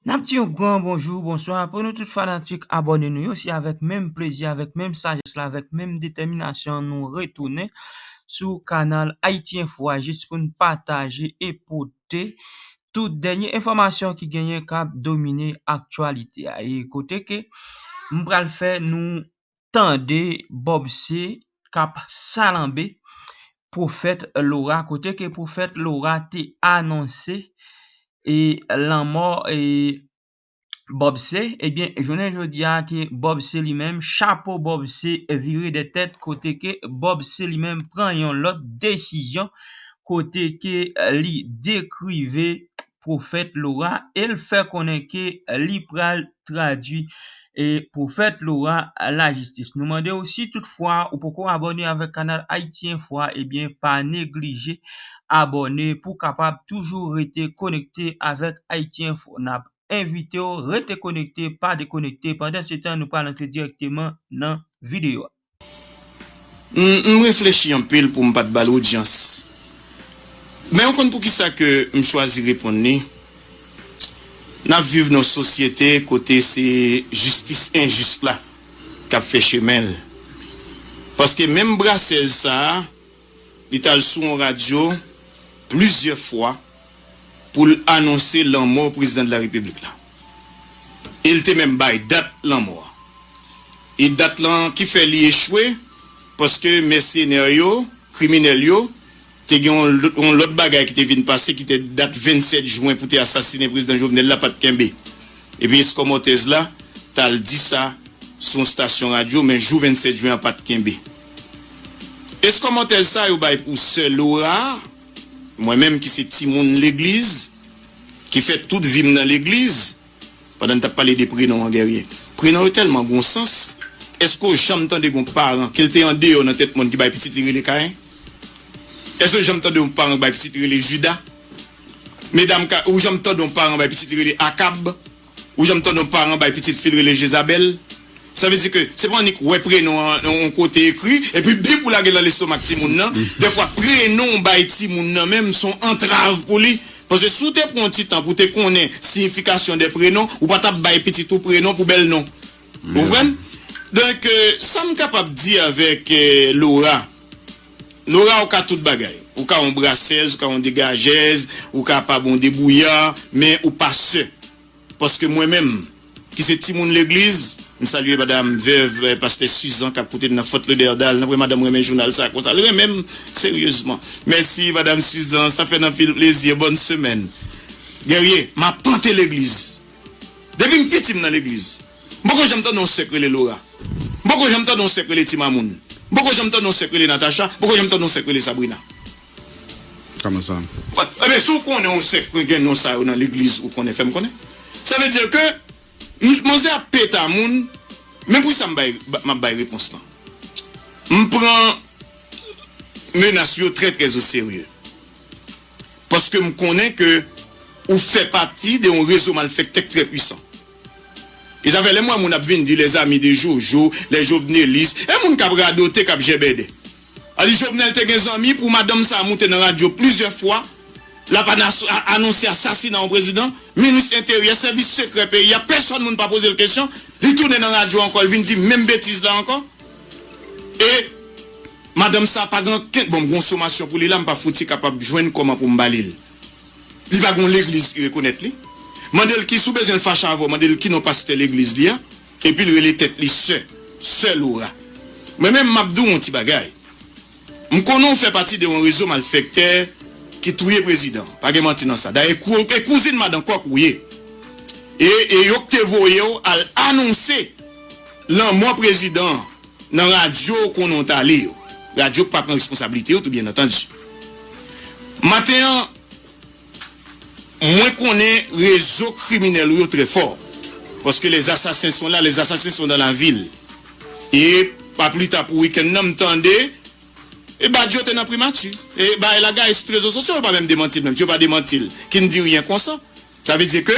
Nap di yon gran bonjou, bonswa pou nou tout fanatik abòne nou yo, se avèk menm plezi, avèk menm sajès la, avèk menm detèminasyon nou retounen sou kanal Ayiti Enfo a jis pou nou pataje e pote tout dènye enfòmasyon ki genyen kap domine aktyalite a. E kote ke m pral fè nou tande bob se kap salanbe profèt Laura kote ke profèt Laura te anonse e lanmò e bob se ebyen jounen jodi a ke bob se li menm chapo bob se vire de tèt kote ke bob se li menm pran yon lòt desizyon kote ke li dekrive Pwofèt Laura e l fè konnen ke li pral tradwi Pwofèt Laura lajistis. Nou mande w si tout fwa ou poko abòne avèk kanal Haïti Info a ebyen pa neglije abòne pou kapab toujou rete konekte avèk Haïti Info. N ap envite w rete konekte pa dekonekte pandansetan nou pral antre dirèkteman nan videyo a. M reflechi anpil pou m pa t ba l odyans. Men ou konn poukisa ke m chwazi reponn li? N ap viv nan yon sosyete kote se jistis enjis la k ap fè chemen l. Paske menm brasèz sa a, li t al sou yon radyo plizyè fwa. pou l anonse lanmò Prezidan de la Repiblik la. E l te menm bay dat lanmò a. E dat lan ki fè li echwe, paske mèsenè yo, kriminèl yo, te gen yon lòt bagay ki te vin pase ki te dat 27 jwen pou te asasinen Prezidan Jovenel la pa t kenbe. E pi eskòmòtèz la t al di sa sou yon stasyon radyo, men jou 27 jwen an pa t kenbe. Eskòmòtèz sa yo bay pou sè Lora. Mwen menm ki se timoun legliz, ki fè tout vi m nan legliz, pandan n t ap pale de prenon an Guerrier, prenon yo tèlman gon sans, èske w janm tande gon paran ke l te andeyò nan tèt mòn ki bay pitit li rele Kayen? Èske w janm tande yon paran ki bay pitit li rele Jida? Medam K, ou janm tande yon paran bay pitit li rele Akab? Ou janm tande yon paran bay pitit fi l rele Jezabèl? Sa vle di ke se pa annik wè prenon an yon kote ekri epi bip ou lage l nan lestomak timoun nan. Dèfwa prenon ou bay timoun nan menm son antrav pou li. Paske si w te pran yon ti tan pou w te konnen siyifikasyon dè prenon, ou pa t ap bay pitit ou prenon pou bèl non. Ou konprann? Donk, sa m kapab di avèk Laura. Nora ou ka tout bagay, ou ka yon brasèz, ou ka yon degajèz, ou ka pa bon debouya, men ou pa sè. Paske mwen menm, ki se timoun legliz, m salye madam vèv pastè Suzan kap koute n nan Fort Lauderdale, nan vre madam renmen jounal sa konsa, l renmen m seryezman. Mèsi madam Suzan, sa fè n anpil plezi, bòn semèn. Guerrier, m apanté legliz. Depi m piti m nan legliz. M poko janm tande yon sè k rele Lora. M poko janm tande yon sè k rele Ti Mamoun. M poko janm tande yon sè k rele Natacha. M poko janm tande yon sè k rele Sabrina. Kòman sa? Ebyen si w konnen yon sè k gen non sa yo nan legliz ou konnen fè m konnen. Sa vle di ke manzè ap peta moun men pou sa m bay m ap bay repons lan. M pran menas yo trè trè oserye. paske m konnen ke ou fè pati de yon rezo malfèktè k trè pwisan. E sa fè lè m wè moun ap vin di les amis de Jojo, les jovenelistes, e moun k ap radote, k ap jèbèdè. A di Jovenel te gen zanmi pou madanm sa a moute nan radyo plizyè fwa, l ap anonse asasina yon prezidan, minis enteryè, sèvis sekrè peyi a, pèsòn moun pa poze l kesyon, li tounen nan radyo ankò, l vin di menm betiz la ankò. E madanm sa pa gen ankenn bon konsomasyon pou li la m pa fouti kapab jwenn kòman pou m ba li l. Li pa gen yon legliz ki rekonèt li. Mande l ki si w bezwen l fache avè w mande l ki non pastè legliz li a epi l rele tèt li sè, sè Lora. Mwen menm m ap di w yon ti bagay. M konnen w fè pati de yon rezo malfèktè ki touye prezidan an. Pa gen manti nan sa. Dayè e kouzin madan kòk ou ye. E e yo k te voye w al anonse. Lanmò prezidan an nan radyo ou konnen w t ale yo, radyo k pa pran responsablite yo tou byennantandi. Maten an, mwen konnen rezo kriminèl ou yo trè fò, paske les assassins sont là, les assassins sont dans la ville. E pa pli ta pou wikenn nan m tande e Badio te nan Primati e Bae Lagae sou trezo sosyo yo pa menm demanti l menm si yo pa demanti l ki n di ryen konsa. Sa vle di ke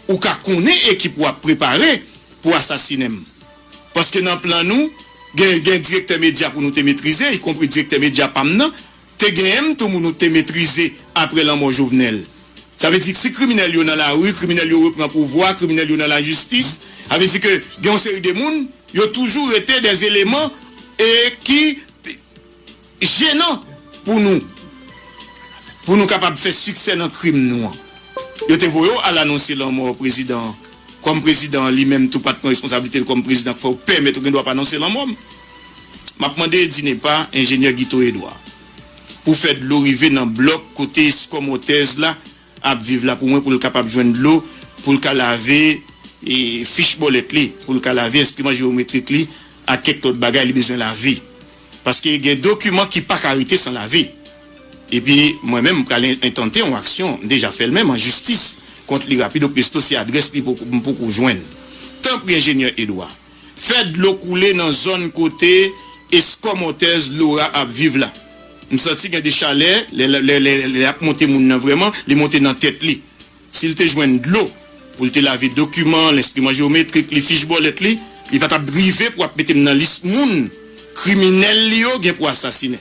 ou ka konnen ekip ou ap prepare pou asasinen m. Paske nan plan nou, gen gen direktè medya pou nou te metrize, ikonpri direktè medya pa m nan, te gen m tou mou nou te metrize apre lanmò Jovenel. Sa vle di si kriminèl yo nan lari, kriminèl yo repran pouvwa, kriminèl yo nan lajistis, sa vle di ke gen yon seri de moun, yo toujou rete dè eleman e ki. Jenan pou nou, pou nou kapab fè siksè nan krim nou an. Yo te voye w al anonse lanmò prezidan an. Kòm prezidan an li menm tou pa t pran responsablite l kòm prezidan k fè w pèmèt ou gen dwa pa anonse lanmò m. M ap mande DINEPA, enjenyè Guito Edouard, pou fè dlo rive nan blòk kote Escomores la ap viv la pou mwen pou l kapab jwenn dlo pou l ka lave fich bòlèt li, pou l ka lave enstriman jewometrik li ak kèk lòt bagay li bezwen lave. Paske gen dokiman ki pa ka rete san lave. Epi mwen menm m pral entante yon aksyon, m deja fè l menm, an jistis kont li rapido presto si adrès li m poko jwenn. Tanpri Enjenyè Edouard. Fè dlo koule nan zòn kote eskomòtèz Laura ap viv la. M santi gen de chalè lè ap monte moun nan vrèman, li monte nan tèt li. Si l te jwenn dlo pou l te lave dokiman l, enstriman jewometrik li, fich bòlèt li, li pa t ap rive pou ap mete m nan lis moun kriminèl li yo gen pou asasinen.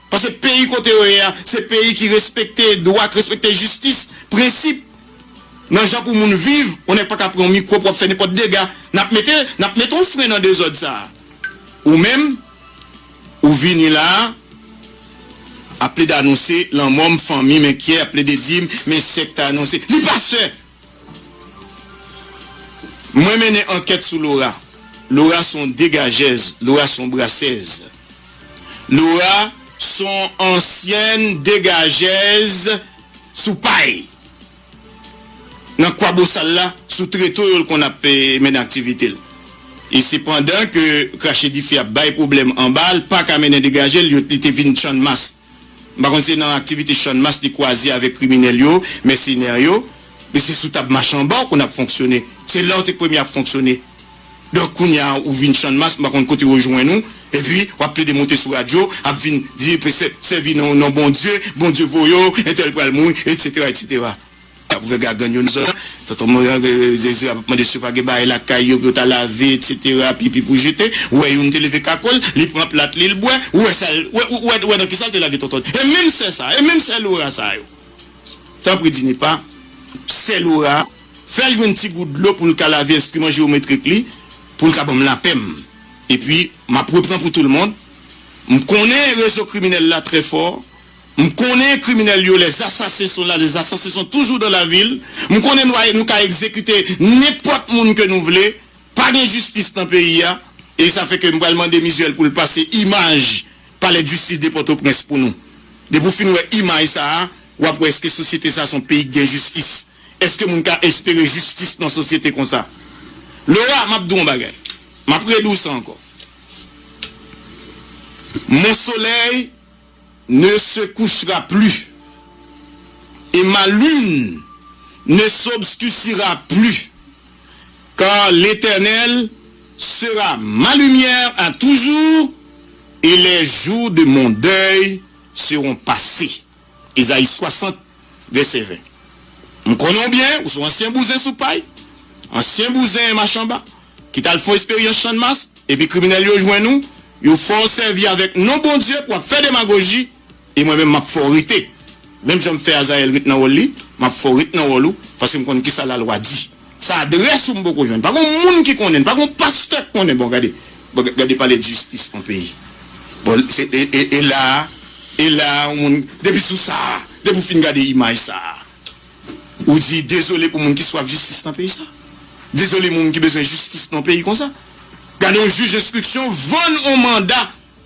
Paske peyi kote yo ye a, se peyi ki respekte dwa, ki respekte jistis, prensip nan jan pou moun viv. Yon nèg pa ka pran yon mikwo pou ap fè nenpòt dega. N ap mete, n ap mete yon fren nan dezòd sa a. Ou menm, ou vini la a, ap plede anonse lanmò m, fanmi m enkyè, ap plede di m, men sè k te anonse. Li pa sè! Mwen mennen ankèt sou Lora. Lora se yon degajèz. Lora se yon brasèz. Laura son ansyèn degajèz sou pay nan Kwabosal la sou treto yo l konn ap mennen aktivite l. E se pandan ke krache dife ap bay pwoblèm anba l pa ka mennen degaje l yo li te vin channmas. M pa konn se nan aktivite channmas li kwaze avèk kriminèl yo, mèsenè yo. Men se sou tab machanba w konn ap fonksyone. Se la w te k premye ap fonksyone. Donk kounya ou vin channmas m pa konn kote yo jwenn ou epi wap plede monte sou radyo ap vin di presè sèvi nan non Bondye Bondye voye w entèl pral mouri etc etc ap vè gagann yo nan zòn tonton morann zeze ap mande si yo pa gen bagay lakay yo pou yo ta lave etc pipi pou jete ou wè youn te leve kako l li pran plat li l bwè ou wè sa l ou wè nan kisa l te lage tonton e menm sè sa e menm sè Lora sa yo. Tanpri Dinipa, sè Lora, fè l jwenn ti gout dlo pou l ka lave enstriman jewometrik li pou l ka ban m lapè m. Epi, m ap repran pou toulmond. M konnen rezo kriminèl la trè fò. M konnen kriminèl yo, les assassins sont là, les assassins sont toujours dans la ville. M konnen nou a, nou ka egzekite nenpòt moun ke nou vle. Pa gen jistis nan peyi a. E sa fè ke m pral mande Mizuel pou l pase imaj palèdjistis de Pòtoprens pou nou. Depi w fin wè imaj sa a, w ap wè èske sosyete sa a se yon peyi ki gen jistis? Èske moun ka espere jistis nan yon sosyete konsa? Laura, m ap di w yon bagay. M ap redi w sa ankò. Mon soleil ne se couchera plus et ma lune ne s'obscuscira plus, car l'Eternel Sera ma lumière a toujours et les jours de mon deuil seront passés Esaïe 60 vèsè 20 M konnen w byen, ou se yon ansyen bouzen sou pay, ansyen bouzen machanba ki t al fon esperyans channmas epi kriminèl yo jwenn ou, yo fè w sèvi avèk non Bondye pou w ap fè demagoji. E mwen menm, m ap fè w rete. Menm jan m fè Azayèl ret nan wòl li, m ap fè w ret nan wòl ou, paske m konn ki sa lalwa di. Sa adrès ou m poko jwenn. Pa gen yon moun ki konnen l. Pa gen yon pastè k konnen. Bon, gade, gade pale de jistis yon peyi. Bon, se, e, e, e la a, e la a yon moun, depi sou sa a, depi w fin gade imaj sa a, ou di dezole pou moun ki swaf jistis nan peyi sa a. Dezole moun ki bezwen jistis nan yon peyi konsa. Gade yon jij enstriksyon vann yon manda.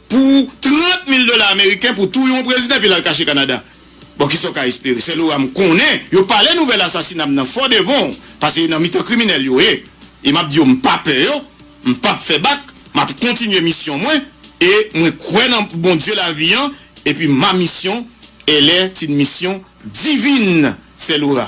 pou 30 mil dola ameriken pou touye yon prezidan epi l al kache Kanada. Bon kisa w ka espere? Sè Lora m konnen yo pale nouvèl asasina m nan fò devan w pase e nan mitan kriminèl yo ye e m ap di yo m pa pè yo, m p ap fè bak, m ap kontinye misyon mwen e mwen kwè nan Bondye lavi an epi ma misyon elle est une mission divine, sè Lora.